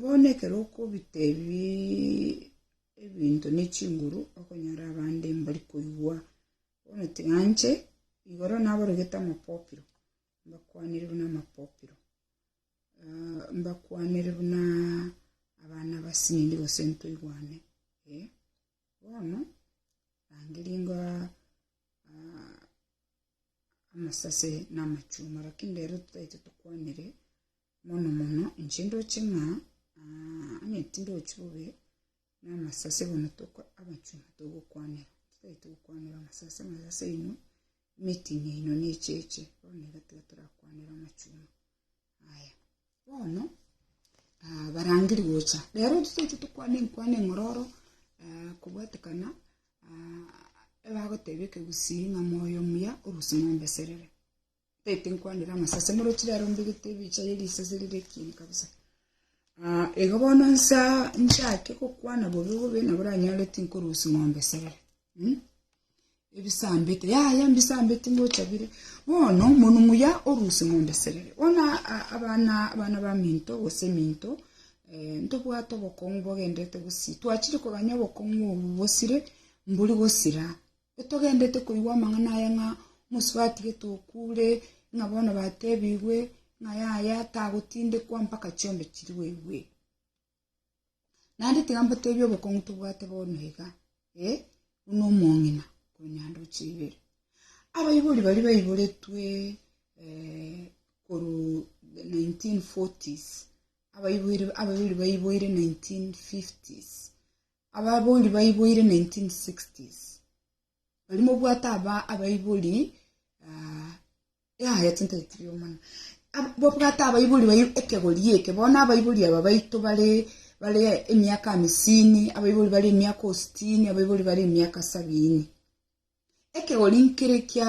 Bono ekero okobita ebinto ne chinguru okonyora abande mbari koigwa, bono tiganje igoro nabarogete amapopiro, mbakwanere buna amapopiro, mbakwanere buna abana basinto gose ntoigwane, eh. Bono rangeria ingo amasase na amachuma, lakini rero totaete tokwanire mono mono, inche ndoche ng'a onye tindochi bobe na amasase bono toko amachuma togokwanera, totaete gokwanera amasase, amasase aino, emeeting yaino na echeche, bono nigo tiga torakwanere amachuma. Yaya, bono ah, barangeri gocha rero toseche tokwane enkwane eng'ororo ah, kobwatekana ah, ebagoteba ekegusii ng'a moyo omuya orusi mombeserere taete nkwanire amasase morochi rero mbegete ebicha ye risase rire ekieni kabisa Ah, igo bono nsa nchake gokwana bobe bobe nabo ranyoreti nkorusi ng'ombe serere Ebisambete, yaya mbisambete ngocha bire. Bono monu muya oruse ng'ombe serere. Bono abana abana baminto gose eminto ntobwate obokong'u bogendete gosii. Twachire kogania obokong'u obo bosire mbori gosira. Togendete koigwa amang'ana aya ng'a mosubatigeete okure, ng'a bono batebigwe ng'a yaya tagotindekwa mpaka chiombe chiria oigwete. Naende tiga mbateebie obokong'u tobwate bono iga, ee, buna omong'ina konya ndoche ibere. Abaibori baria baiboretwe eh, korwa the 1940s, abaiboire abaibori baiboire 1950s, ababori baiboire 1960s, Barimo bwate aba abaibori ah, ya ya chinto chitiri omana Ab- bo bwate abaibori bai ekegori eke bono abaibori aba baito bare bare emiaka amisini abaibori bare emiaka ositini abaibori bare emiaka sabini ekegori nkere kia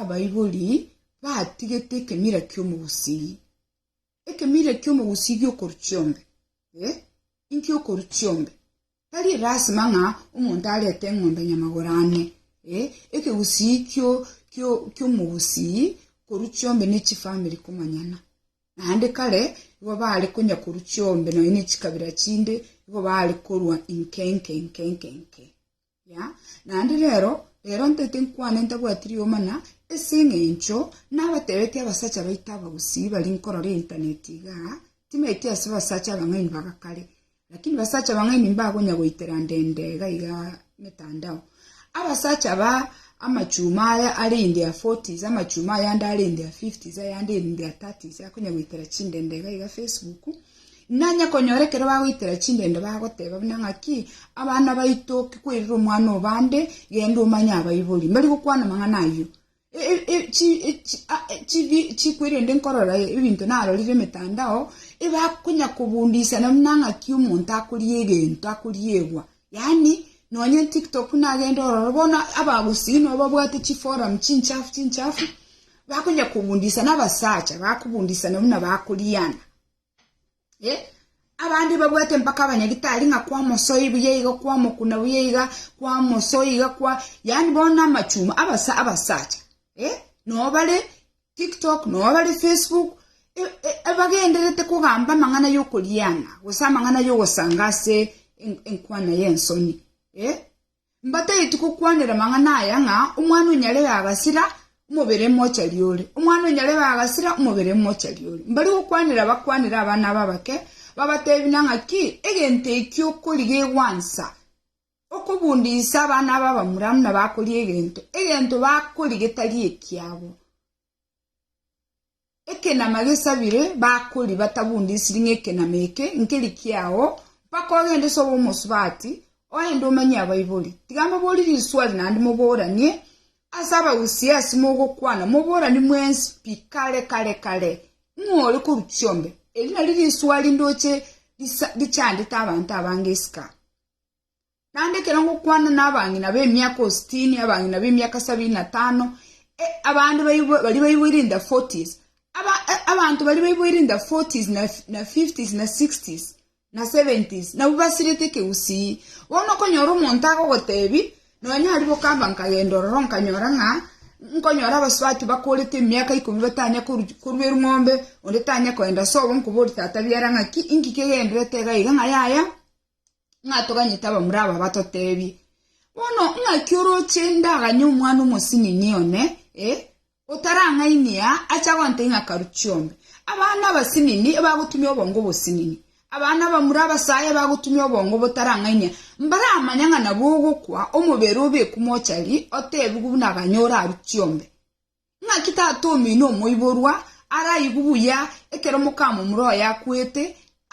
abaibori batigete ekemira kiomogusii ekemira kiomogusii giokoru chiombe eh, inkiokoru chiombe Tari lasima ng'a omonto arete eng'ombe ya nyamagoro ane, ee, ekegusii ki'omogusii korwa chiombe ne chifamiri komanyana. Naende kare igo baare konya korwa chiombe nonya ne chikabira chinde igo baare korwa inke inke inke inke inke. Ya, naende rero, rero ntaete nkwane ntabwati rioma na ase eng'encho nabatebetie abasacha baito abagusii baria nkorora eintaneti igaa, timaeti ase abasacha abang'aini ba gakare, Lakini basacha bang'aini mbagonya goitera ndende gaiga emetandao. Abasacha ba amachuma aya are in their forties, amachuma ayande are in their fifties, ayande in their thirties akonya goitera chindende gaiga Facebook. Nanya konyora ekero bagoitera chindende bagoteba buna ng'aki abana baito kikwerire omwana obande genda omanye abaibori. Mbari gokwana amang'ana ayio. chikwe rende nkorora ebinto narorire emetandao, ebakonya kobundisana buna ng'aki omonto akoria egento akoria egwa. Yaani nonye tiktok buna agende ororo bono abagusii nabo babwate chiforum chinchafu chinchafu, bakonya kobundisana abasacha bakobundisana buna bakoriana. Eh, abande babwate mpaka abanyagitari ng'a kwamosoi buya iga kwamokuna buya iga kwamosoi iga kwa yaani bono na amachuma abasa abasacha eh noo bare tiktok noo bare facebook e- e- ebagenderete kogamba amang'ana ya okoriana gose amang'ana ya ogosanga ase en- enkwana ya ensoni eh Mbataeti gokwanera amang'ana aya ng'a omwana o nyarebe agasira, omobere mochari ore, omwana o nyarebe agasira, omobere mochari ore. Mbari gokwanera bakwanere abana aba abake, babatebi na ng'aki, Egento eki okori gegwansa okobunda inse abana aba abamura buna bakoria egento, egento bakori getari ekiabo. Ekenama gesabire, bakori batabunde esiringi ekenama eke nkeri kiao, mpaka ogende sobe omosubati, oende omanye abaibori. Tiga mbabori riswari naende moboranie ase abagusia ase mogokwana, moborani mwensi pi kare kare kare, ng'o ore korwa chiombe. Eri nari riswari ndoche richandete abanto abange isiko. Naende ekero ngokwana nabang'ina b'emiaka ositini, abang'ina b'emiaka sabini na tano, abande baibwe baria baiboire in the forties, aba abanto baria baiboire in the forties na fi na fifties na sixties na seventies nabwo basirete ekegusii. Bono okonyora omonto agogotebi, nonye aria bokamba nkagenda ororo nkanyora ng'a nkonyora abasubati bakorete emiaka ikomi batanya koru korua erwombe, onde tanya koenda sobo nkoborie tata biara ng'aki inki kegenderete iga iga ng'a yaya. ng'a toganyete abamura aba batotebie, Bono ng'aki oroche ndaganye omwana omosinini one, eh, otarang'ainie aa, acha gontebia ng'a karu chiombe? Abana abasinini ebagotumia obongo obosinini, abana abamura abasae ebagotumia obongo botarang'ainia, mbaramanya ng'a nabwo ogokwa, omobere obekwe mochari, otebigwe buna aganyore aru chiombe. Naki tata omino omoiborwa araigwe buya ekero mokamomura oye akwete,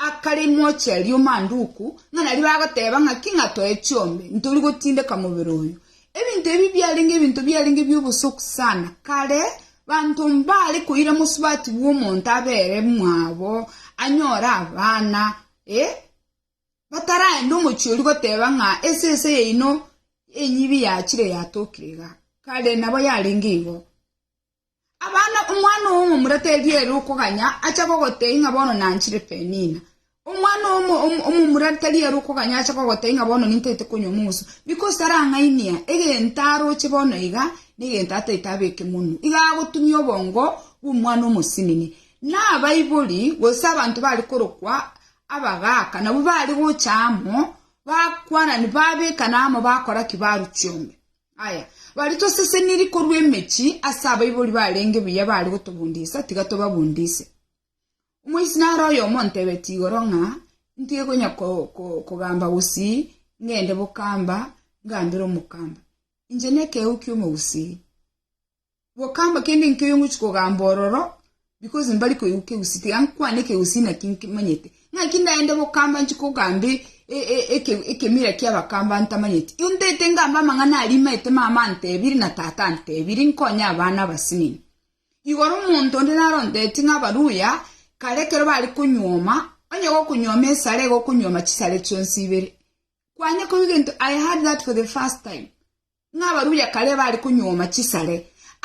akare imoche erio manduku, ng'a nario bagoteba ng'aki ng'a toe chiombe, ntori gotindeka mobere oyo. Ebinto ebi biarenge ebinto biarenge bi'obosoku sana kare, banto mbare koira mosubati bw'omonto abere mwabo anyore abana, ee. Bataraenda omochie oria goteba ng'a esese yaino enyibi yachire yatokire iga, kare nabo yarenge igo. Abana, omwana oyomo omuratebi ere okoganya acha gogotebia ng'a bono nanchire Penina. Omwana oyomo omomuratebi ere okoganya acha gogotebia ng'a bono nintagete konywa omoguso, because tarang'ainia egento aroche bono iga na egento atagete abeke monwe. Iga agotumia obongo bw'omwana omosinini. Na abaibori, gose abanto bare korokwa Abagaaka nabwo baare gocha amo, bakwanani, babekana amo, bakora ki? Barwa chiombe. Aya, baria toseseniri korwa emechie ase abaibori barenge buya baare gotobundisa, tiga tobabundise. Omoisini are oyomo ontebetie igoro ng'a ntige konya kogamba gusii, ngende bokamba, ngambere omokamba. Inche nekeegwa ki'omogusii. Bokamba kende nkio yong'ochi kogamba ororo, because mbari koigwa kegusi, tiga nkwane ekegusi naki nkimanyete. Ng'aki ndaende bokamba nchi kogamba e- e- e- eke- ekemira ki'abakamba ntamanyeti. Igo ntaete ngambe amang'ana aria imaete mama antebire na tata antebire nkonye abana abasinini. Igoro omonto onde naro onteti ng'a Abaluya, kare ekero bare konyuoma, onye gokonyuoma esara igo okonyuoma chisare chionsi ibere. Kwanye koigwa egento, I heard that for the first time. Ng'a abaruya kare bare konyuoma chisare,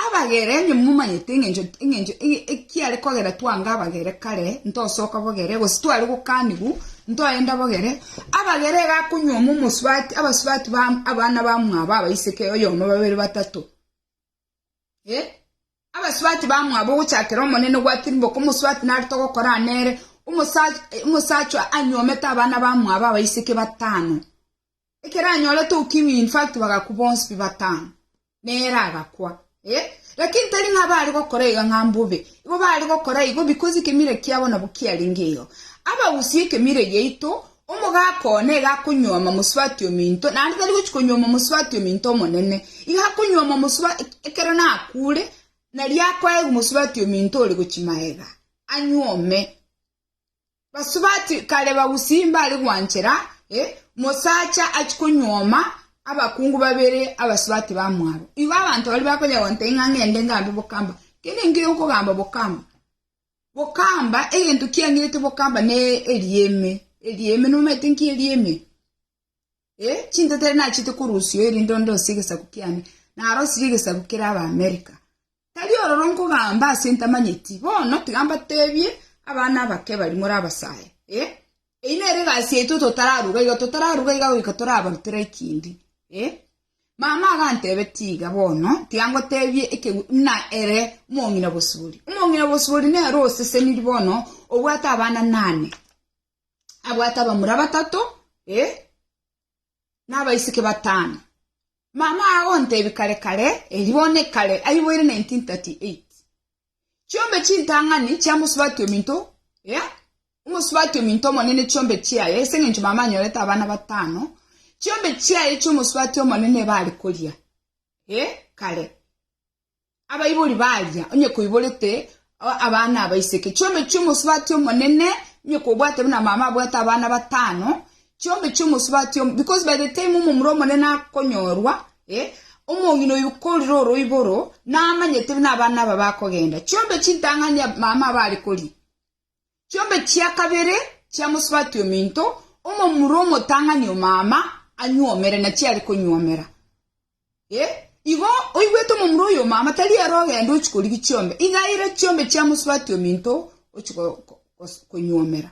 abagere, onye momanyete engencho, engencho, ekiare kogera twange abagere kare, ntosoka bogere, gose tware gokanigu, ntoenda bogere, abagere iga akonyuoma omosubati, abasubati ba abana bamwabo abaiseke, oyomo, babere, batato, eh, abasubati bamwabo ogochakera Omonene gwatirimbe oko omosubati narete ogokorana nere, omosa omosachwa anyuomete abana bamwabo abaiseke batano, ekero anyorete ukimwi in fact bagakwa bonsi pi batano na ere agakwa eh lakini tari ng'a bare gokora iga ng'a mbobe igo bare gokora igo because ekemira kiabo nabo kiarenge igo abagusie ekemire giaito omogaka one iga akonyuoma mosubati ominto naende tari gochi konyuoma mosubati ominto omonene iga akonyuoma mosuba ekero nakure nari akoegwa mosubati ominto ore gochi maega anyuome. Basubati kare bagusii mbare gwanchera, e, omosacha achie konyuoma abakungu babere abasubati ba mwabo. Igo abanto baria bakonya gontebia ng'a ngende ngambe bokamba. Kende nkiya okogamba bokamba. Bokamba, egento kiang'irete bokamba ne erieme. Erieme, nomanyete nki erieme? Ee, chinteteri nachete korusia oyo rende onde osie egesaku kiane, narosirie egesaku kere Abaamerika. Tari ororo nkogamba ase ntamanyeti. Bono tiga mbateebie, abana abake bari more abasae. Ee, eyio nere egasi yaito ototaraaruga iga, totaraaruga iga goika toraabarutera ekindi. Ee. Mama agantebetia iga, Bono tiga ngoteebie ekegwi buna ere omong'ina bosibori. Omong'ina bosibori nere osesenirie bono, obwate abana nane. abwate abamura batato, ee, na abaiseke batano. Mama agontebia kare kare, erio bono ekare aiboire 1938. Chiombe chintang'ani chiamosubati ominto, ee, omosubati ominto omonene chiombe chiaye, ase eng'encho mama anyorete abana batano, chiombe chiaye chi'omosubati omonene ebare koria, ee, kare. Abaibori baria, onye koiborete abana abaiseke, chiombe chi'omosubati omonene, onye kobwate buna mama abwate abana batano, chiombe chi'omosubati omonene, because by the time omomura omonene akonyorwa, eh, omong'ina oyio korire oroiboro, namanyete buna abana aba bakogenda. Chiombe chintang'ani mama aba are koria. Chiombe chia kabere chia mosubati ominto, omomura omotang'ani omama anyuomere na chiare konyuomera. E, igo oigwete omomura oyo omama tari ere ogende ochikorigi chiombe, igaire chiombe chia mosubati ominto ochikonyuomera.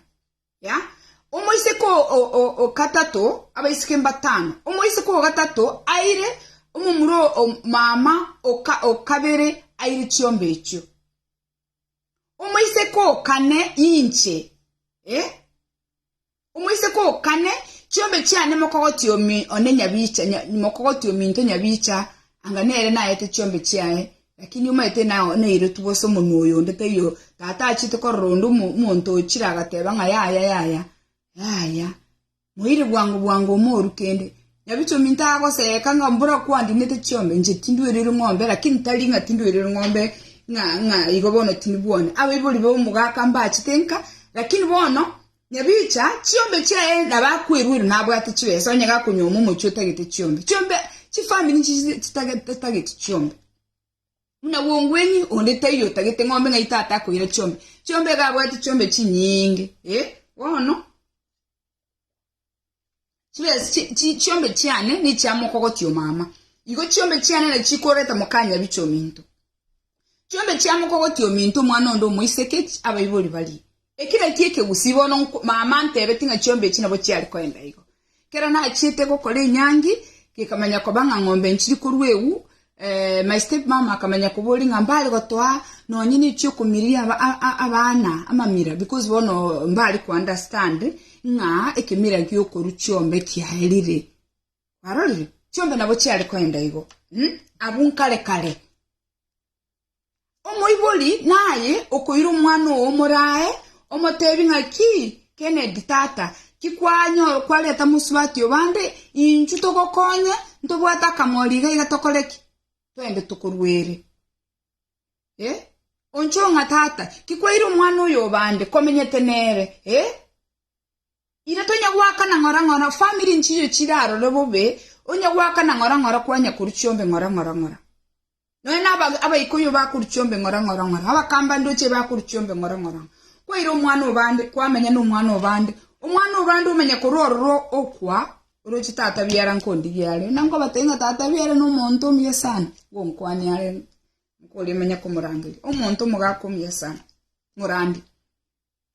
Ya, omoiseke ogatato, abaiseke mbatano, omoiseke ogatato aire omomura omama okabere aire chiombe echio. Omoiseke o kane inche, ee, omoiseke o kane, chiombe chiane mokogoti omi one nyabicha, nya, mokogoti ominto nyabicha, anga nere naete chiombe chiaye, lakini omaete na noirotu bose omonwa oyo onde taiyo, tata achiete korora onde omo- omonto ochire agateba ng'a yaya yaya, yaya. Moire bwango bwango omoru kende. Nyabichwa ominto agoseeka ng'a mbora kwandinete chiombe, inche tindwerirwe ng'ombe, lakini tari ng'a tindwerirwe ng'ombe ng'a ng'a igo bono tindibwoni. Abaibori b'omogaka mbachete nka, lakini bono Nyabichwa chiombe chiaye nabo akwerwera nabwate chibesa onye gakonyuoma omochie otagete chiombe. Chiombe chifamiri nichi chitag chitageti chiombe. Buna bwong'weni onde taiyo otagete ng'ombe ng'ai tatakoira chiombe. Chiombe iga abwate chiombe chinyinge eh bono. Chibesa chi- chi- chiombe chiane nichiamokogotio mama, igo chiombe chiane nachikoreta mokanyabiche ominto. Chiombe chiamokogotio ominto omwana onde omoiseke chi- abaibori barie. Eki naki ekegusi bono nko- mama antebeti ng'a chiombe echi nabo chiare koenda igo. Kero nachiete gokora enyangi, gekamanya koba ng'a ng'ombe nchiri korwa ewu, My step mama akamanya koboria ng'a mbare gotoa nonye nechi okomiria abana amamira because bono mbare ko understand ng'a ekemira giokoru chiombe kiaerire kwarorire chiombe nabo chiare koenda igo hmm? abwo nkare kare Omoibori naye okoira omwana oo omoraae, omoteebie ng'aki, Kennedy, tata, ki kwareta mosubati oo bande? Inchuo togokonye, ntobwate akamori iga iga tokore ki? Twende tokorue ere. Eh? Onchoo ng'a tata, ki kwaire omwana oyo oo bande, komenyete nere? Eh? Ira tonya goakana ng'ora ng'ora, family nchiyo chirarore bobe, onya goakana ng'ora ng'ora kwanya korwa chiombe ng'ora ng'ora ng'ora. Nonya na abaikuyu bakorwa chiombe ng'ora ng'ora ng'ora, na abakamba ndooche bakorwa chiombe ng'ora ng'ora ng'ora. Kwaira omwana o bande, kwamenya nomwana o bande, omwana o bande omenya korwa ororo okwa oroche tata biara nkondigia are, na nkobatebia ng'a tata biara nomonto omuya sana, ngonkwane are nkoria omenya komorangeria, omonto omogaka omuya sana, morandia.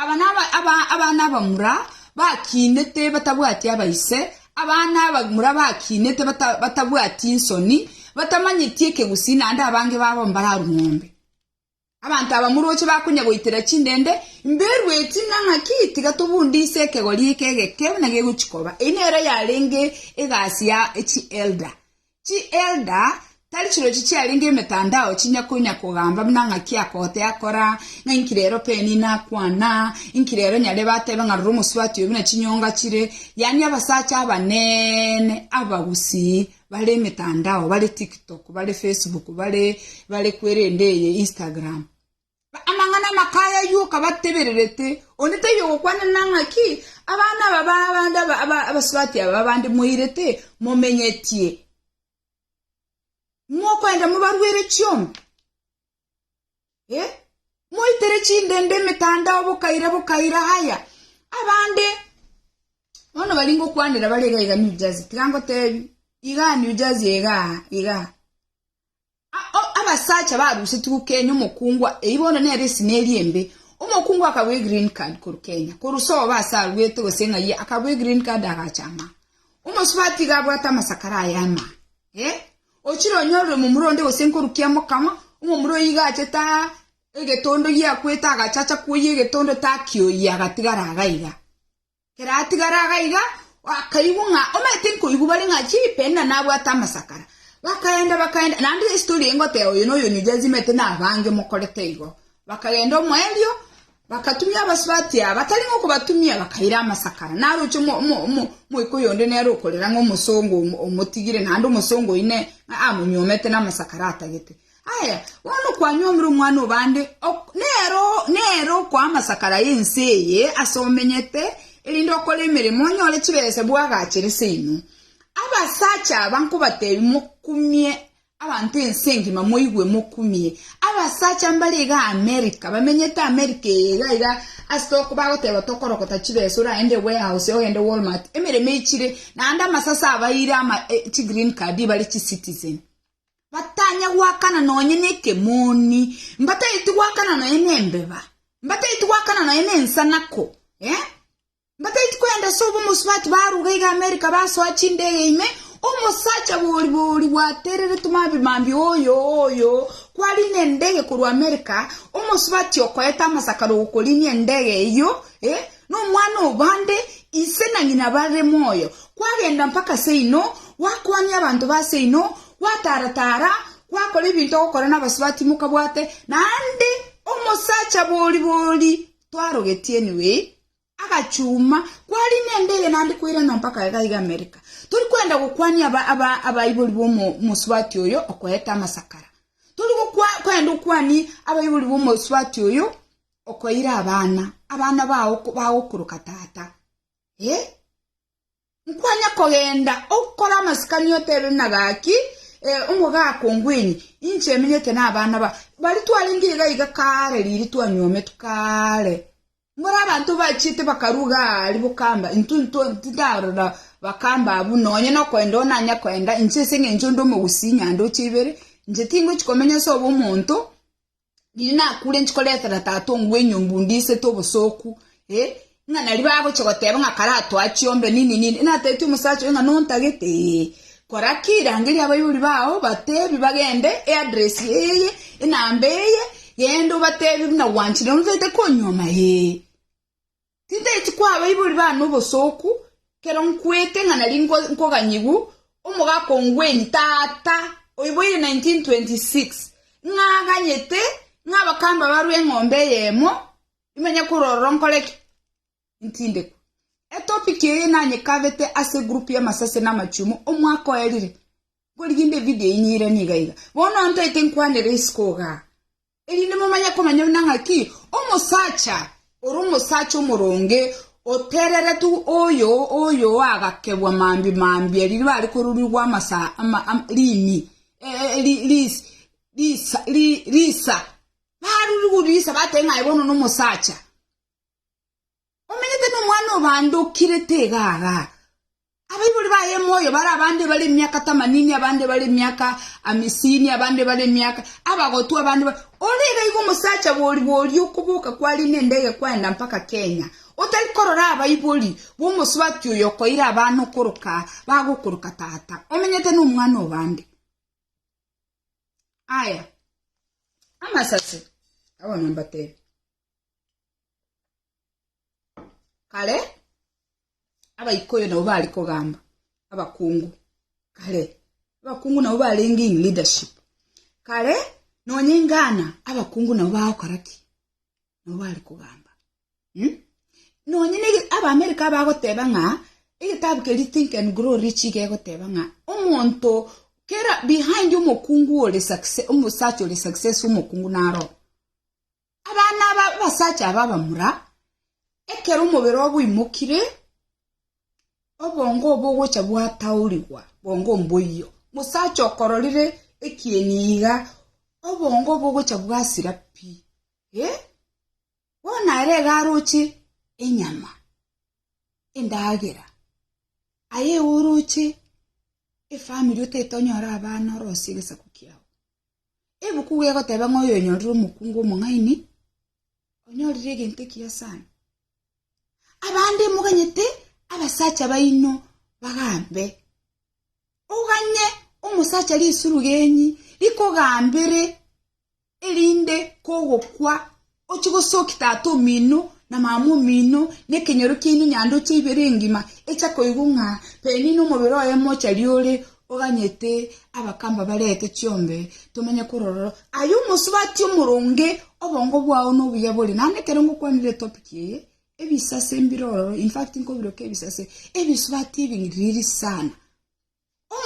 Aba nabo abana abamura bakinete batabwati abaise, abana abamura bakinete batabwati nsoni, batamanyeti ekegusii, naende abange babo mbararue ng'ombe. Abanto aba moroche bakonya goitera chindende, mberueti ng'a ng'aki, tiga tobundise ekegori eke egeke buna gegochi koba. Eyio nero yarenge egasi ya chi elder. Chielda tari chirochi chiarenge emetandao chinya konya kogamba buna ng'aki akote akora, ng'a inki rero Penny nakwana, inki rero nyare batebe ng'a rora omosubati oyo buna chinyonga chire, yaani abasacha abanene abagusii bare emetandao, bare TikTok, bare Facebook, bare bare kwerende eye Instagram. Amang'ana amaka aya ayio okabatebererete, onde taiyo ogokwanera ng'aki abana aba b'abande abasubati aba b'abande moirete momenyetie, mokoenda mobaruere chiombe, moitere chindende emetandao bokaira bokaira. Haya, abande bono baria ngokwanera bare iga iga New Jersey, tiga ngotebi, igaa New Jersey igaa igaa. Abasacha barusetigwe gokenya omokungwa, eyi bono nero esina eria embe. Omokungwa akabua egreen card korwa Kenya, korwa sobo ase aruete gose ng'ai akabua egreen card agacha ama. Omosubati iga abwate amasakara aye ama. Eh, ochire onyorire omomura onde gose nkorukia mokama, omomura oyio iga achete aa egetondo giakwete agacha acha koyia egetondo taki oyia agatigara iga iga. Keratigara aga iga, bakaigwa ng'a omanyete nkoigwa bare ng'a chipe na nabwate amasakara. Bakaenda, bakaenda, naende ase tori ngoteba oyo noyo oyo jazimete na abange mokorete igo. Bakagenda omoerio, bakatumia abasubati aba, batari ng'a okobatumia, bakaira amasakara. Naroche omo, omo, omo, omoika oyonde nere okorera ng'a omosongo omotigire, naende omosongo oyio ne, ng'a amonyuomete na amasakara atagete. Aye, bono okwanyuomire omwana o bande, nere okoa amasakara y'ense eye ase omenyete, erinde okore emeremo, onyore chibesa bw'agaachere seino. Abasacha aba nkobateebie, mokumie abanto ense engima moigwe mokumie. Abasacha mbare iga Amerika, bamenyete Amerika eye iga iga, ase toko bagoteeba tokorokota chibesa oraende warehouse ogende Walmart, emeremo eichire, naende amasase abaeire ama chigreen card bare chicitizen. Batanya goakana nonye nekemoni, mbataeti goakana nonye nembeba, mbataeti goakana nonye nensanako, eh? Mbataeti kwenda ase obomosubati baruga iga Amerika basoa chindege ime, omosacha bori bori gwatereretwe mambi mambi oyo oyo kwarina endege korwa Amerika, omosubati okoeta amasakara ogokorinia endege eyio, eh? Nomwana obande, ise na ng'ina bare moyo, gwagenda mpaka seino, gwakwania abanto ba seino, gwataara-taara, gwakora ebinto ogokora nabasubati mokabwate, naende omosacha bori-bori twarogetie niwe agachuma, kwari nende eye naende kwairana mpaka iga iga Amerika. Tori kwenda gokwania abaibori b'omosubati oyo okoete amasakara. Tori kwenda okwanie abaibori b'omosubati oyo Okoira abana, abana bao bagokoroka tata. Eh? Nkwanya kogenda okore amasikani otebe buna gaki, eh, omogaka ongwenye, inche emenyete nabana ba. Bari twarenge iga iga kare riiri twanywometwe kare. Mbore abanto bachiete bakaruga ari bokamba, intwe intwe tindarora bakamba abwo nonye nokoenda onanya koenda inche ase eng'encho onde omogusi nyanda oche ibere, inche tingochi komenya ase obo omonto, Riria nakure inche koretera tata ong'u bw'enyomba ondisete obosooku, eh, ng'a nario bagochia goteba ng'a kare atoa chiombe nini nini, natebeti omosacha oyo ng'a nontagete, eeh, kora ki rangeria abaibori bao batebi bagende eaddress eye, enamba eye, genda obatebi buna gwanchire notaete konyuoma, eeh. Titaeti kw'abaibori bane obosooku, ekero nkwete ng'a nari nkoganyigwa, omogaka o Ngwenyi, tata, oiboire 1926, ng'a aganyete ng'a abakamba barwe eng'ombe eyemo, nimanye korwa ororo nkore ki? Ntindekwe. Etopic eye nanyekabete ase egroup y'amasasi na amachumu omwaka oerire. Nkorigia inde evideo enyire niga iga. Bono ntaete nkwanere isiko igaa. erinde momanye komanya buna ng'aki omosacha ore omosacha omoronge otereretwe oyo oyoagakebwa mambi mambia riria bari korurigwa amasa ama, am, rimi e, e, e, ri, ris, risa, ri, risa barurigwa risa batee ng'aye bono nomosacha Omenyete nomwana obandokire taiga aaga. Abaibori baye moyo bare abande bare emiaka tamanini, abande bare emiaka amisini, abande bare emiaka abagotu, abande bare. Ore iga igo omosacha bori bori okoboka kwari nendege kwaenda mpaka Kenya, otari korora abaibori b'omosubati oyo okoira abana okoroka bagokoroka tata. Omenyete nomwana obande. Aya amasase, abana mbatebie. Kare abaikoyo nabo bari kogamba abakungu kare abakungu nabo barenge in leadership kare nonye ingana abakungu nabo bagokora ki nabo bari kogamba hmm? nonye ne abamerika abagoteba ng'a egetabu keri think and grow rich gegoteba ng'a omonto kera behind omokungu ore success omosacha ore success omokungu naro Abana aba abasacha aba abamura, ekero omobere obo oimokire, obongo obo ogocha gwataorigwa bongo mboiyo. Mosacha okororire ekieni iga, obongo obo ogocha bwasira pi, eh, bono ere iga aroche enyama, endagera. Aye iga oroche efamiri otaete onyore abana orosie egesaku kiao. Ebuku egoteba ng'a oyoonyorire omokungu omong'aini, onyorire egento ekiya sana. Abande moganyete abasacha baino bagambe. Oganye omosacha risiru genyi rikogambere erinde kogokwa Ochie gosokia tata omino na mama omino na ekenyoro kiaino nyanduche ibere engima, echa koigwa ng'a penina omobere oye mochari ore oganyete abakamba barete chiombe tomanye korororo. Aye omosubati omoronge, obongo bwao nobuya bore. Naende ekero ngokwanire etopic eye, ebisase mbirororo, in fact nkobiroka ebisase, ebisubati ebing'iriri sana.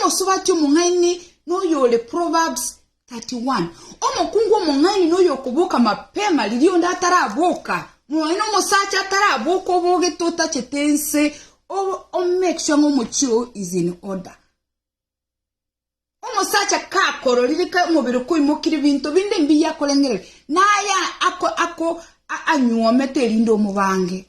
Omosubati omong'aini noyo ore Proverbs 31. Omokungu omong'aini noyo okoboka mapema riria onde ataraboka. Moyo nomosacha ataraboka obogete otachete ense o make sure ng'a omochie oo is in order. Omosacha kakororire ka omobere koimokire binto binde mbiya akorengereria naye ako ako anyuomete erinde omobange.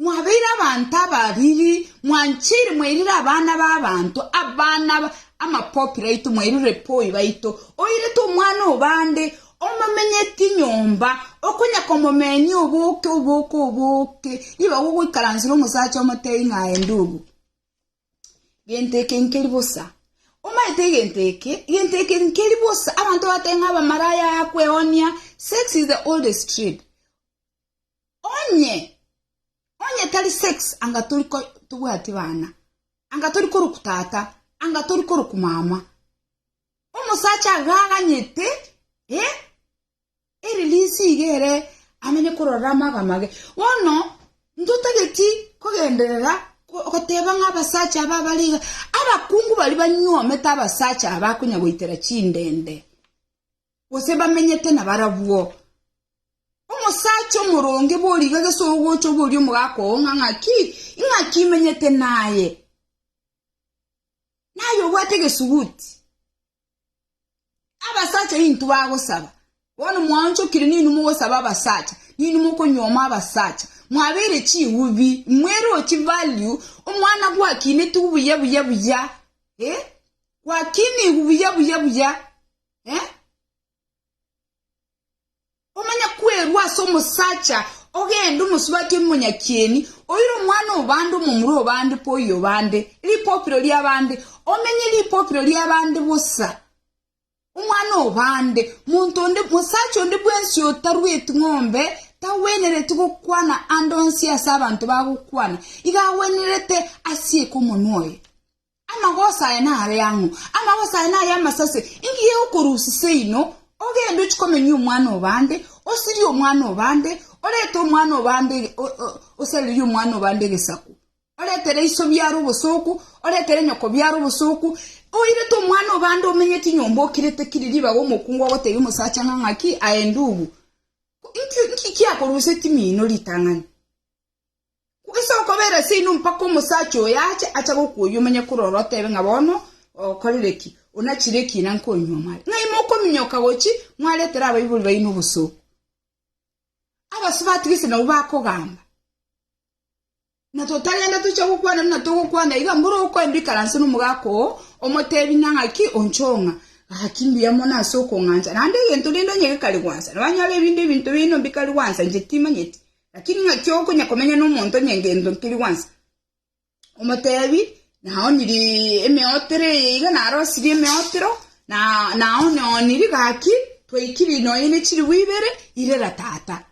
Mwabeire abanto abariri, mwanchire, mwairire abana b'abanto, abana amapopi raito, mwairire poi baito, oirete omwana o bande, omomenyeti nyomba, okonya komomenia oboke, oboke, oboke, nigo agogoikaransire omosacha omotebi ng'a aende obo. Gento eke nkeri bosa. Omanyete egento eke? Egento eke nkeri bosa. Abanto batebi ng'a abamaraya, kweonia, sex is the oldest trade. Onye, onye tari sex anga tori ko, tobwati bana, anga tori koroku tata, anga tori koroku mama. Omosacha agaganyete, eh, eri risiga ere amenye korora amaga mage. Bono ntotageti kogenderera ko- goteba ng'a abasacha aba bari iga, abakungu bari banyuomete abasacha aba konya goitera chindende. gose bamenyete nabarabwo. Omosacha omoronge boriga gese ogocha oboria omogaka oo ng'a ng'aki, ing'aki imenyete naye, naye obwate egesuguti. Abasacha intwe bagosaba, bono mwaonchokire ninwe mogosaba abasacha, ninwe mokonyuoma abasacha, mwabeire chigubi, mwerochi value, omwana gwakineti buya buya buya, eh, gwakinigwe buya buya buya, Eh? Omanya kwerwa ase omosacha ogende omosubati omonyakieni oire omwana obande omomura obande poyi obande ripopiro riabande omenye ripopiro riabande bosa omwana obande monto onde mosacha onde bwensi otarweti ng'ombe tagwenereti gokwana ande onsi ase abanto bagokwana iga agwenerete asieke omonwa oye Amagoso aya nare ang'o? Amagoso aya naye amasase. Ingiya okorusia seino, ogende ochie komenya omwana o bande, osirie omwana o bande, orete omwana o bande, osarerie omwana o bande egesaku, oretere iso biaro obosooku, oretere nyoko biaro obosooku, oirete omwana o bande omenyeti nyomba okirete kiri ribaga omokungu ogotebia omosacha ng'a ng'aki aye ndubu. Inki inki kiakorusetie mino ritang'ani? Gose okobeera ase inwe mpaka omosacha oyo ache, acha gokuoyia omanye korora otebe ng'a bono okorire ki, onachire ki na nkonywa mware, ng'a ime okominyoka gochi mwaretere abaibori baino obosooku. Abasio batigise nabwo bakogamba, na totagenda tocha gokwana buna togokwana iga, mboro okoe mbikaranse nomogaaka oo, omotebi ng'a ng'aki onchong'a, gaki mbuya mono ase okong'ancha, naende egento rende onye gekari gwansa, nabanyore ebinde ebinto bino mbikari gwansa, inche timanyeti, Lakini ng'aki okonya komenya nomonto onye ngento nkeri gwansa, omotebi, Naoniri emeotero eye iga, narosirie emeotero, na naonioniri gaki, twaikiri nonya ne chiribu ibere, irera tata.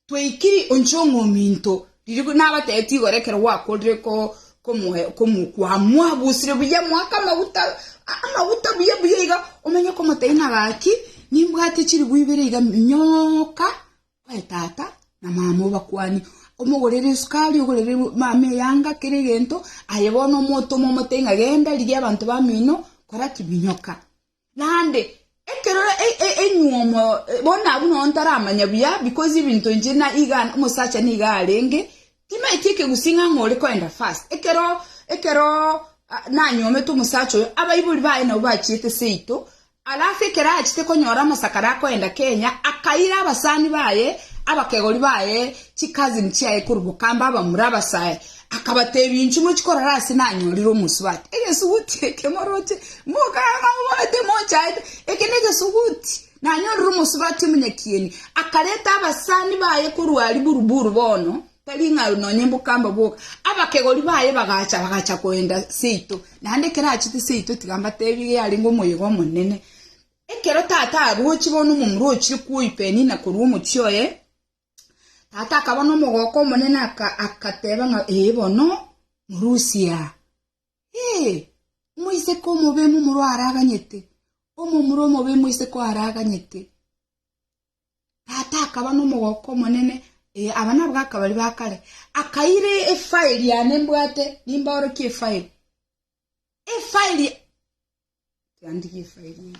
Twaikiri onche ong'ominto, riria nabatebitie igoro ekero gwakorire ko komoe komo kwamwabusire buya mwake amaguta a- amaguta buya buya iga, omenye komotebi ng'a gaki, nimbwate chiribu ibere iga minyoka Aye tata, na mama obakwane. Omogorere esukari, ogorere mama eyanga, kera egento, aye bono omotoma omote ng'a genda, rigia abanto bamino, kora ki? Minyoka. Naende, ekero e- e- enyuomo, eh, bono abwo nonya ntaramanya buya, because ebinto inche na iga omosacha niga arenge, timaeti ekegusii ng'a ng'a ore koenda fast. Ekero ekeroo ah nanyuomete omosacha oyo, abaibori baye nabo bachiete seito, Alafu ekero achete konyora amasakare akoenda Kenya, akaira abasani baye, abakegori baye, chi cousin chiaye korwa Bukamba abamura abasae, akabatebia inche mochi korora ase nanyorire omosubati, egesuguti eke moroche mokaga ng'a mobarete mochaete, eke negesuguti nanyorire omosubati omonyakieni. Akareta abasani baye korwa aria Buruburu bono, Tari ng'a nonya mbokamba boka. Abakegori baye bagacha, bagacha koenda seito. Naende ekero achete seito, tiga mbateebie yarenge omoyega omonene. Ekero tata aroche bono omomura ochire kwoi Penina korwa omochie oye, tata akaba nomogooko omonene akateeba ng'a ee bono morusia aa. Ee, omoiseke omobe momura araganyete, omomura omobe moiseke oaraganyete. Tata akaba nomogooko omonene, ee, aba nabwo akabari ba kare, akaira efairi yane mbwate, nimbaorokie efairi. Efairi tiandigie efairi eye.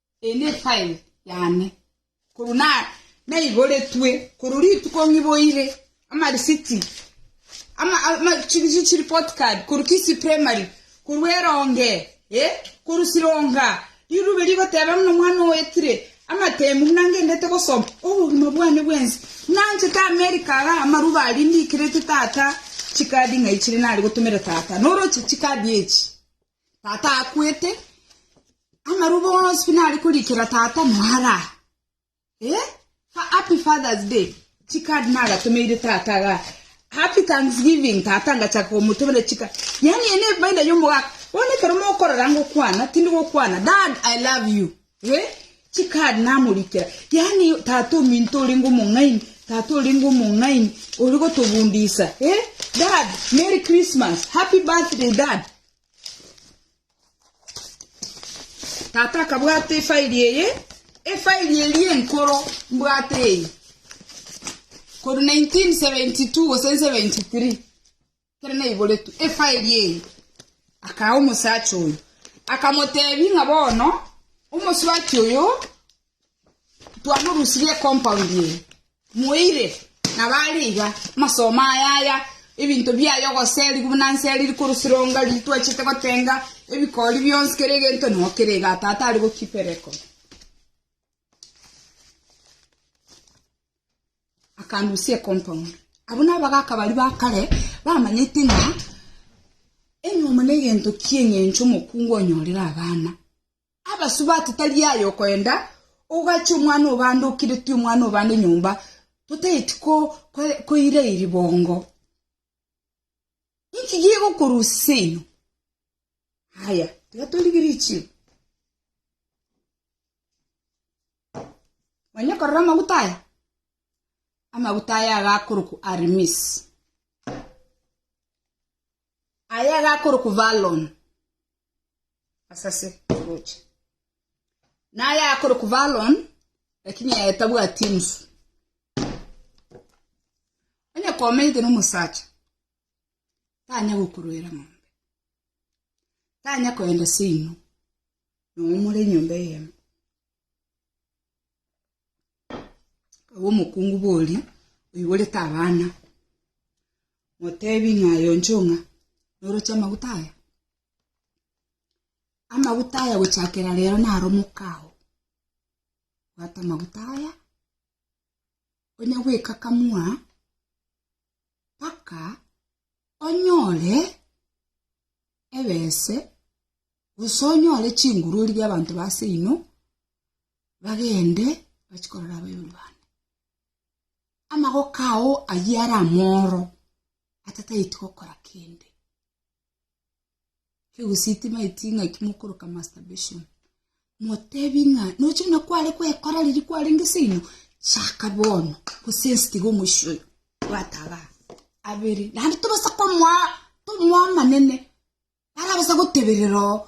Eye nefile yane, korwa naigoretwe korwa rituko ng'iboire amarisiti chireport card korwa Kisii primary, korwa eronge eh, korwa sironga, rirube rigoteba buna omwana oyo oetire amatemu buna ngendete gosoma, obogima bwane bwensi buna nchete America iga amarubo aria ndikerete tata chikadi ng'ai chiria nare gotomera tata, noroche chikadi echi. Tata akwete, amarubo onsi buna are korikera tata noara. Eh? Fa- Happy Father's Day. Chikadi nagatomeire tata ga. Happy Thanksgiving tata ngachaka komotomera chika. Yani ene efaida yomogaka. Bono ekero mokorora ngokwana, tindi gokwana. Dad, I love you. Ee, chikari namorikera, yaani tata ominto orenge omong'aini, tata orenge omong'aini ori gotobundisa. Ee, dad, merry Christmas, happy birthday dad. Tata akabwata efairi eye, efairi eri enkoro mbwate eye, kori 1972 gose 73 Ekero naiboretwe efairi eye, akaa omosacha oyo, akamotebi ng'a bono omosubati oyo twamorusirie ecompoundi eye, moire nabo are iga, amasomo aya aya, ebinto biaye ogoseri buna nse riri korusironga riri twachete gotenga, ebikori bionsi kera egento noo kere igaa tata are go keep a record. akanusia ecompoundi abwo nabagaka baria ba kare bamanyete ng'a enyomo ne egento kia eng'encho omokungu onyorere abana abasubati tari aye okoenda ogachia omwana obande okiretie omwana obande nyomba totaeti ko koira iri bongo inki gegokorusia eno haya tiga torigerie chiro. Manya okorora amaguta aya? Amaguta aya agakorokwa Armis. Aya agakorokwa Valon. Asase roche. Na aya agakorokwa Valon, lakini aya tabwati enusu. Onye komenyete n'omosacha, tanya gokorwera ng'ombe. Tanya koenda seino, nomore enyomba eyemo. Agwo omokungu bori oiborete abana, motebi ng'a aye onchio ng'a noroche amaguta aya? Amaguta aya gochakera rero naro mokao, bwata amaguta aya, onya goikakamua mpaka onyore ebese Gose onyore chingurori bi'abanto ba ase inwe, bagende bachie korora abayombi bane. Amagoko ao ayio are amoro, atataeti gokora kende. Kegusii timaeti ng'a ekio mokoroka masturbation, motebi ng'a nochire na kware goekora riria kwarenge ase inwe, chaka bono gose ense tiga omoisia oyo, bwata abana abere. Naende tobasa komoa tomoa amanene. Barabasa goteberera oo.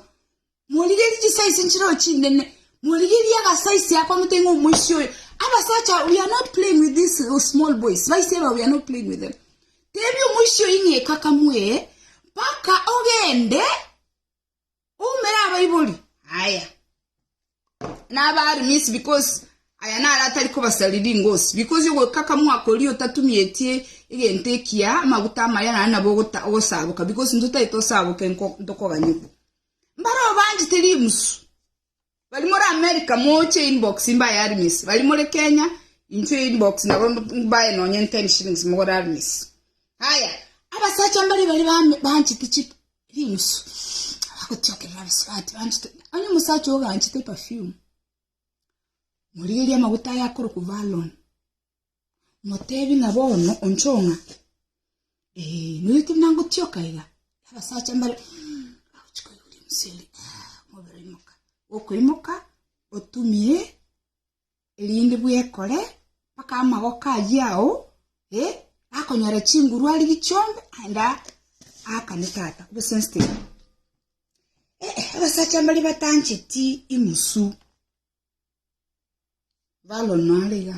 Morigerie chisaisi nchireo chinene. Morigerie agasaisi ako ng'otee ng'a omoisia oyo. Abasacha, we are not playing with these uh, small boys. Baise aba, we are not playing with them. Tebia omoisia oyo ng'a ekakamue mpaka ogende oumere abaibori. Aya. nabaare minsi because aya naro atari kobasaria ringosi, because ogwekaka mwakoria otatumietie egento ekiya amaguta amaya naende nabo ogosaboka because intwe tari tosaboke ntokoganyigwa. Mbare obanchete rimusu bari more America moche inbox mbaye arimisi bari more Kenya intwe inbox nabo mbaye nonye ten shillings mogore arimisi. Haya abasacha mbari baria banchete chip. Rimusu abagotiokerera abasubati banchete, onye omosacha ogo anchete perfume, morigerie amaguta aye akorokwa Valon, motebi ng'a bono onchoo ng'a eh, nonya tari nangotioka iga, abasacha mbare mm, bagochi koigwa rimusu erio, ah, omobere oimoka. Okoimoka, otumie erinde bwekore mpaka amagoko ayio ao eh, akonyora chinguru arigie chionde aende aakane tata obe sensitive Eh, eh, abasacha mbare batancheti imosu balono are iga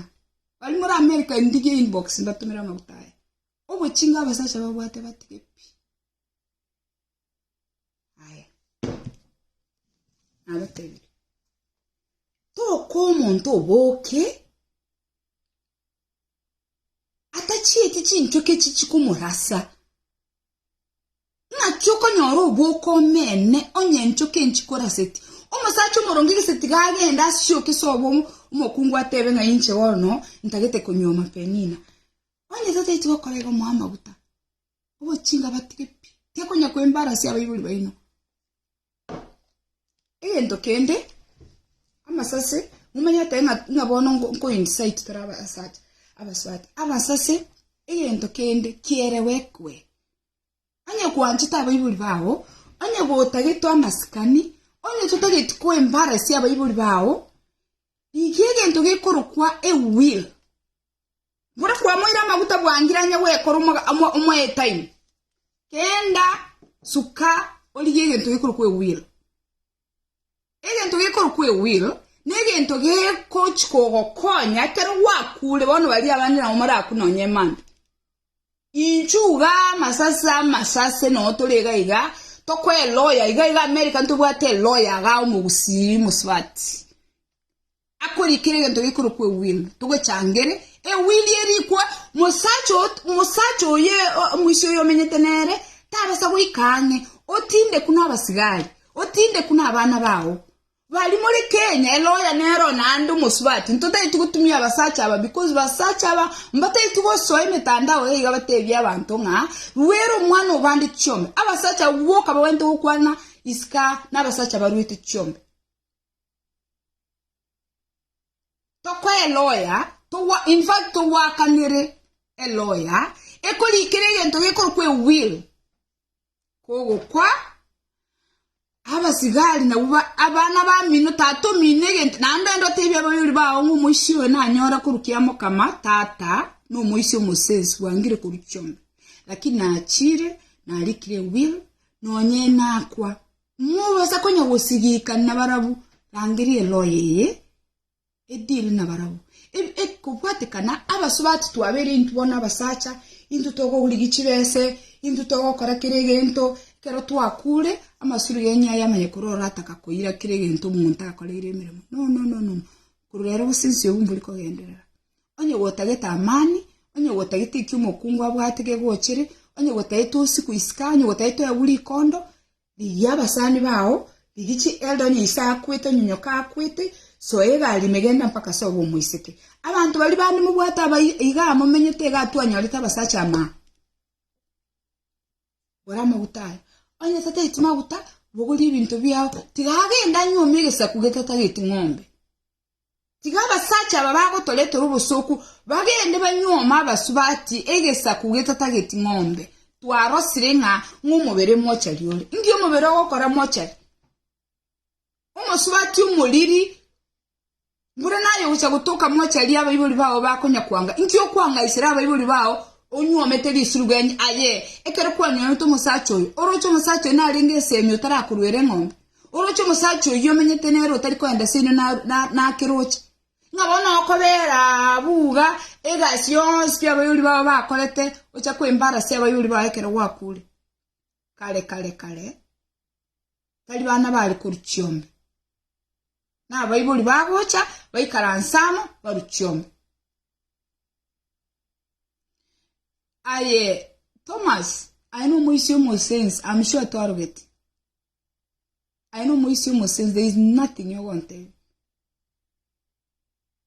bari muri america ndigie inbox ndatumera amaguta aya obochinga abasacha babwate batige pi Aye. Nabatebirie. Toka omonto oboke atachieti chinchoki echi chikomorasa ng'aki okonyora oboke omene onye enchoki echi chikoraseti omosacha omoronge gese tiga agende asioke ase obo omokungu atebe ng'a inche bono ntagete konywa amapenina onye totaeti gokora igo moe amaguta obochinga batige pi tekonya kwembara ase abaibori baino egento kende amasase momanyete ng'a bono nko incite tara abasacha abasubati abasase egento kende kielewekwe onye gwanchete abaibori bago onye gotagetwe amasikani onye totageti kwembara ase abaibori bago iga egento gekorokwa a will. Buna kwamoire amaguta bwangirania gwekora omoetaini, kenda suka origie egento gekorwa kw'ewil. Egento gekorwa kw'ewil negento gekochi kogokonya ekero gwakure bono baria abande nabo morakwe nonya emambe. Inchuo igaa amasase amasase noo tore iga iga tokoe eloya iga iga America ntobwate eloya igaa omogusii mosubati. Akorikire egento gekorokwa ewil, togechangere, ewil erikwa, mosacha mosacha oye omoisia oyo omenyete nere tabasa goika ang'e, otinde kune abasigari, otinde kune abana bao. Bari more Kenya, eloya nero naende omosubati, ntotaeti gotumia abasacha aba because basacha aba mbataeti gosoa emetandao iga ibateebie abanto ng'a ruera omwana oo bande chiombe. Abasacha abwo boka babwenerete gokwana isiko aa nabasacha baruete chiombe. Tokoa eloya, togwa, in fact togwakanere eloya ekorikera egento gekorokwa ewill kogokwa abasigari nabwo ba abana bamino tata omino egento naende ande otebia abaibori bago ng'a omoisia oyo nanyora korwa kiamokama tata na omoisia omosensi bwangire korwa chiongo lakini nachire narikire ewill nonye nakwa Mobasa konya gosigika nabarabwo, rangeria eloye eye edile nabarabwo. E- Ekobwatekana abasubati twabere intwe bono abasacha, intwe togorigia chibese, intwe togokora kera egento, ekero twakure amasuri genya aye amanye korwa orataka koira kera egento omonto akoreire emeremo. No, no, no, no, no. Korwa ero gose ense obo mbori kogenderera. Onye gotagete amani, onye gotagete ekio omokungu abwate gegochere, onye gotagete osiku isika, onye gotagete oewu rikondo, rigia abasani bao, rigia chi elder onye ise akwete, onye nyoka akwete, soa egari ime genda mpaka sobe omoiseke. Abanto baria bande mobwate aba iga momenyete iga atwanyorete abasacha amo aa. Bora amaguta aya. Onye tatageti maguta, bogorie ebinto biao. Tiga agende anyuome egesaku getatageti ng'ombe. Tiga abasacha aba bagotoretera obosoku bagende banyuome abasu bati egesaku getatageti ng'ombe. Twarosire ng'a ng'omobere mochari ore. Ngi omobere ogokora mochari? Omosubati omoriri Mbura naye ogocha gotoka mocharie abaibori bao bakonyakwanga. Inki okwang'aisera abaibori bao onyuomete risirugenyi? Aye, ekero kwanyuomete omosacha oyo, oroche omosacha oyo narenge esemi otarakoruera eng'ombe? Oroche omosacha oyio omenyete nere otari kogenda seino nake roche? Ng'a bono okobera abwo iga egasi yonsi abaibori bao bakorete ocha kwembarase abaibori bao ekero gwakuure. Kare kare kare. tari bana bare korwa chiombe, na abaibori bagocha baikaranse amo barwe chiombe. Aye Thomas, aye nomoisia omosense, I'm sure twarogeti. Aye nomoisia omosense, there is nothing yogontebia.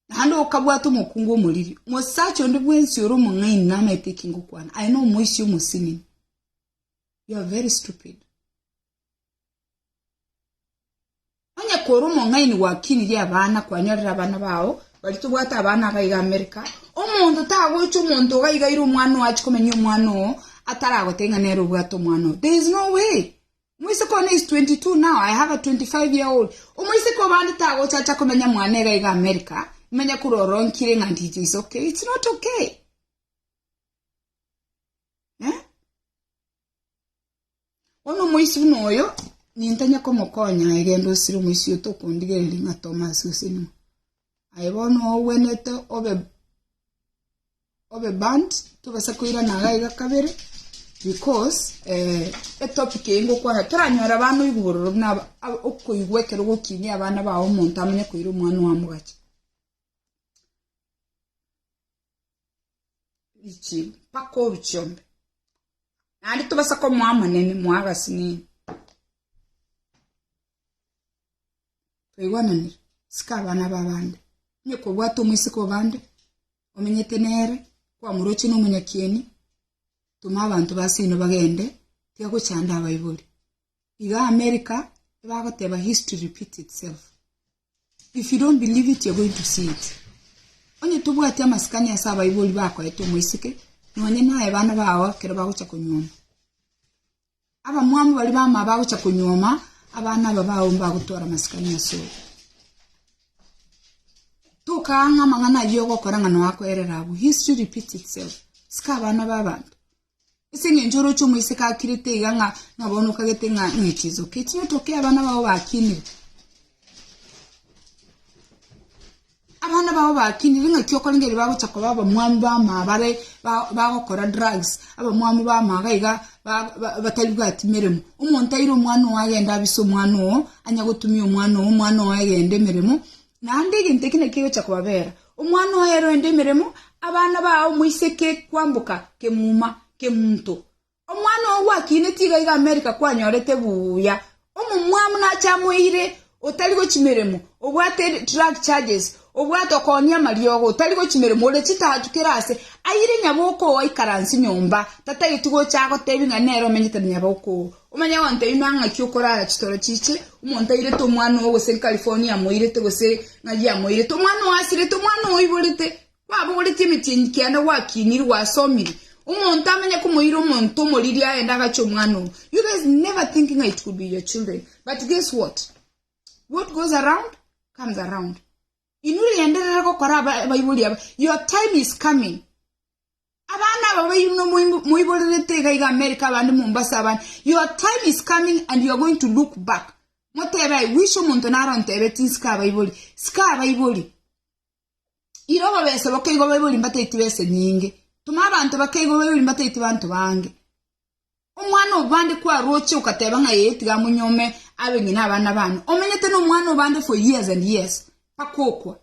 Naende okabwata omokungu omoriri, mosacha onde bwensi ore omong'aini namaete ekingokwana, aye nomoisia omosimini. You are very stupid. Onye kore omong'aini gwakinirie abana kwanyorera abana bao bari tobwate abana agaiga America omonto tagocha omonto ogaigaire omwana oo achi komenya omwana oo ataragoteba ng'a nere obwate omwana oo there is no way moiseke one is 22 now I have a 25 year old omoiseke obande tagocha acha komenya mwana egaiga America imanya kororonkire ng'a ndije is okay it's not okay Eh? Bono omoisi buna oyo nintanya komokonya aye genda osire omoisi oyo tokondigereria ng'a Thomas osenimwe. Aye bono ogwenete obe obe band tobasa koirana iga iga kabere because eh, etopic eye ngokwana toranyora abana oigwa bororo buna aba- aba- okoigwa ekero gokinia abana bao omonto amanye koira omwana owa mogachi Richie, mpaka oruche ombe. Naende tobasa komoa amanene, moa agasinini. Twaigwananire, sika abana ba bande. Onye kobwate omoiseke o bande, omenyete nere, kwamuroche na omonyakieni, toma abanto ba seino bagende, tiga gochanda abaibori. Iga America ebagoteba history repeat itself. If you don't believe it you're going to see it. Onye tobwati amasikani ase abaibori bakoete omoiseke nonye naye bana bao ekero bagocha konyuoma. Abamwamu bari bama bagocha konyuoma abana aba bao mbagotwara amasikani ase oyo. Tokaanga amang'ana ayio ogokora ng'a noakoerera abwo. History repeat itself. Sika abana b'abanto. Ase engencho oroche omoiseke akirete iga ng'a nabo nokagete ng'a ng'e chinsoke echi otoke abana bao bakinire. Abana bao bakinire ng'aki okorengereria bagocha koba abamwamu bamama bare ba- bagokora drugs, abamwamu bamama iga ba- ba- bataribwati meremo. Omonto aire omwana ogo agende abise omwana ogo, anyagotumia omwana ogo, omwana ogo egende emeremo, Naende egento eke nekegocha kobabera omwana oye rende emeremo, abana baa omoiseke kwamboka kemuma kemunto. Omwana oo gwakine tiga iga Amerika kwanyorete buya, omomwamu nache amoeire otari gochimeremo, obwate drug charges, obwate okonia amariogo, otari gochimeremo, ore chitatu kera ase, aire nyaboko oo aikaranse nyomba, tatageti gocha agotebie ng'a nere omenyete na nyaboko oo. Omanye abanto aino a ng'aki okorara chitoro chiche, omonto airete omwana oo, gose nkarifoni yamoirete, gose ng'aria yamoirete, omwana oo asirete, omwana oo oiborete, kwabogoretie emetienyi kianda gwakinire, gwasomire. Omonto amanye komoira omonto omoriri agende agache omwana oo. You guys never think ng'a it could be your children. But guess what? What goes around comes around. Inwe rienderere gokora aba abaibori aba. Your time is coming. Abana aba baino moiborerete iga iga America abande Mombasa abande your time is coming and you are going to look back motebe I wish omonto naro ontebe tinsika abaibori sika abaibori iro bobese bokeigo baibori mbataiti bese nyinge tuma abanto bakeigo baibori mbataiti banto bange omwana obande kwaroche okateba ng'a yeye tiga monyome abe ng'ina abana bane omenyete no omwana obande for years and years pakokwa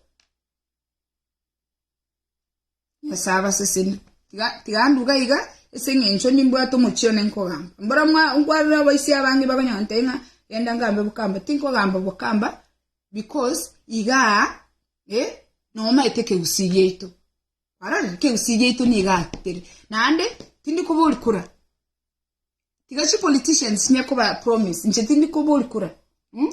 Nyasae abaseseni. Tiga, tiga nduga iga, ase eng'encho nimbwate omochie one nkogamba. Mbora mwa, nkwarire abaisi abange bakonyonte ng'a genda ngambe bokamba. Tinkogamba bokamba because iga eh, nomaete ekegusii giaito. Kwarorire? Ekegusii giaito niga tere. Naende, tindi kobori kura. Tiga chipoliticians chine koba promise. Inche tindi kobori kura. Mm?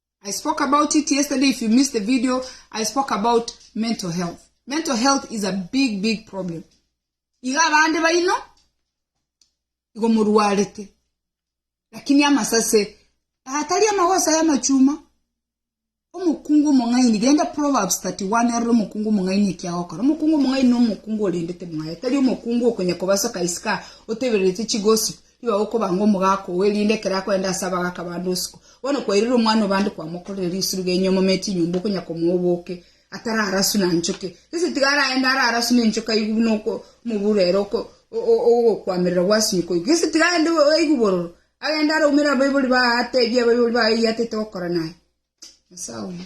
I spoke about it yesterday if you missed the video I spoke about mental health mental health is a big big problem iga abande baino igo morwarete lakini amasase atari amagosa y'amachuma omokungu omong'aini genda proverbs 31 arore omokungu omong'aini ekiagokora omokungu omong'aini na omokungu orendete mwaye tari omokungu okonya kobasoka isika otebererete chigossip Iga gokobanga omogaka oo, erinde ekero akorenta ase abagaka bande usiku, bono kwairire omwana o bande kwamokorire risiru genyu amomete enyomba okonya komoa oboke, atararasu na nchoke. Gese tiga araende ararasu nenchoka aigwe buna oko omobura ere oko ogokwamerera gwasinyuka oigwe. Gese tiga aende aigwe bororo, agende araumere abaibori baye atebie abaibori baye eyiatete gokora naye. Nyasae oye.